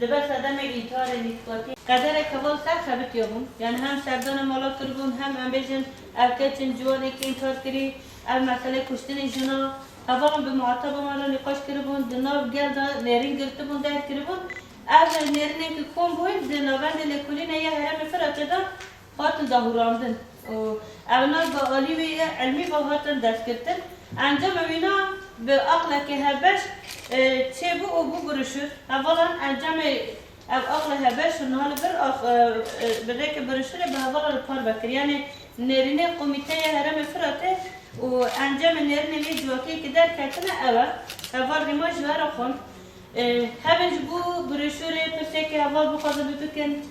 Dibe sedemê înkarê nîskatî. Qederek heval ser xebitiya bûn. Yanî hem serdana mala kiribûn hem em bêjin ev keç in ciwanekî înkar kirî. Ev meseleyê kuştinê jina hevalan bi muhataba me re nîqaş kiribûn. Di nav gel de nêrîn girtibûn derg kiribûn. Ev nêrînên ku kom bûn di navendê lêkolînê ya herêmê Firaçê de hatin dahûrandin û ew nas bi alî wê yê îlmî ve hatin destgirtin. Encama wîna bi aqleke hevbeş çêbû û bû biruşur. Hevalan encamê ev aqlê hevbeş û niha li vir a bi rêkê biruşurê bi hevala li par ve kir. Yanê nêrînê Komîteya Herêmê Firatê û encamê nêrînê lê civakiyê ke derketine ew e. Heval rîma ji we re xwend. Hevên ji bo biruşurê pirseke heval bixwazin bikin.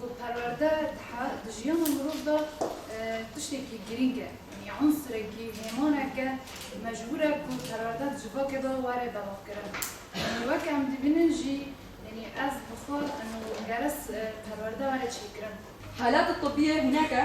Ku perwerde dihe di jiyana mirov de tiştekî girîng e. Yanî unsurekî, hêmanek e ku mecbûr e ku perwerde di civakê de were belavkirin. Yanî weke em dibînin jî yanî ez bi xwe û geres perwerde were çêkirin. Halat tibî ye hinek e.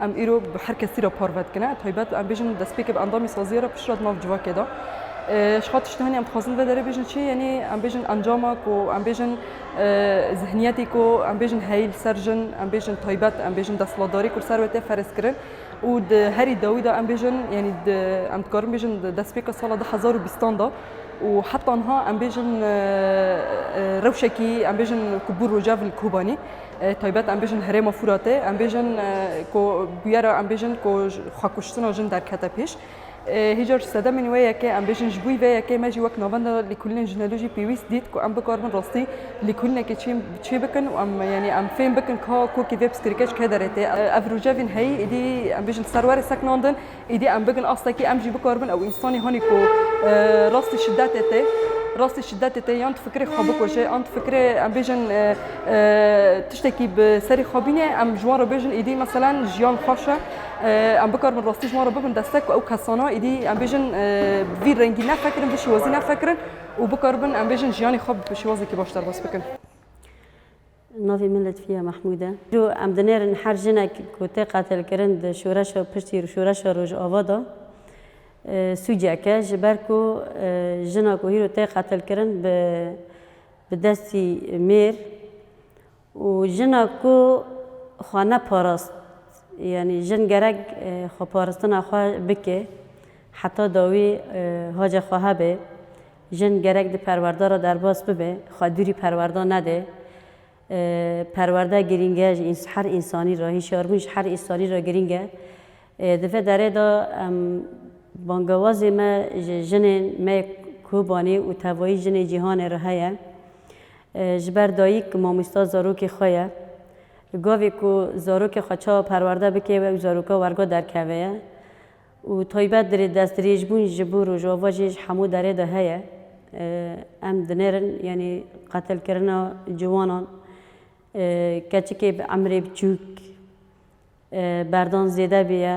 Em îro bi her kesî re parve dikine. Taybet em bêjin destpêkê bi endamî saziyê re piştre di nav civakê de. Ji xwe tiştî henî em dixwazin vedere bêjin çi yenî em bêjin encama ku em bêjin zihniyetê ku em bêjin heyî li ser jin em bêjin taybet em bêjin desthilatdarî ku li ser we tê ferzkirin û di herî dawî de em bêjin yenî di em dikarin bêjin di destpêka sala du hezar û bîstan de û heta niha em bêjin rewşekî em bêjin ku bû rojav li Kobanî. Taybet em bêjin herêma Fûratê em bêjin ku bûyera em bêjin ku xwekuştina jin derkete pêş. Hê car sedemên wê yekê em bêjin ji bûî vê yekê me jî wek navenda lêkolînên jinelû jî pêwîst dît ku em bikaribin rastî lêkolînekê çê bikin û em yanî em fêm bikin ka kokê vê piskirikeç kê derê tê. Ev rojevên heyî êdî em bêjin serwerê seknandin. Êdî em bigin astekî em jî bikaribin ew însanî hanî ku rastî şidetê tê, rastî şidetê tê yan difikirê xwe bikuje an difikirê em bêjin tiştekî bi serî xwe bîne em ji wan re bêjin êdî meselen jiyan xweş e. Em bikaribin rastî ji wan re bibin destek ku ew kesana êdî em bêjin bi vî rengî nefikirin, vî şêwazî nefikirin û bikaribin em bêjin jiyanê xwe bi şêwazekî baş derbas bikin. Navê min Letfiye Mehmûd e. Îro em dinêrin her jinek ku tê qetilkirin di şoreşa piştî şoreşa Rojava de sûcek e ji ber ku jina ku îro tê qetilkirin bi bi destî mêr û jina ku xwe neparast yanî jin gerek xweparistina xwe bike heta dawî hace xwe hebe. Jin gerek di perwerde re derbas bibe, xwe dûrî perwerde nede. Perwerde girîng e ji her însanî re, hişyarbûn ji her însanî re girîng e. Di vê derê de em bangewazê me ji jinên me yê Kobanê û tevayî jinên cîhanê re heye. Ji ber dayik mamosta zarokê xwe ye. Gavê ku zarokê xwe çawa perwerde bike ew zaroka werga derkeve ye. Û taybet dirê destdirêjbûn ji bo Rojava jî ji hemû derê de heye. Em dinêrin yanî qetilkirina ciwanan, keçikê bi emrê biçûk berdan zêde bûye.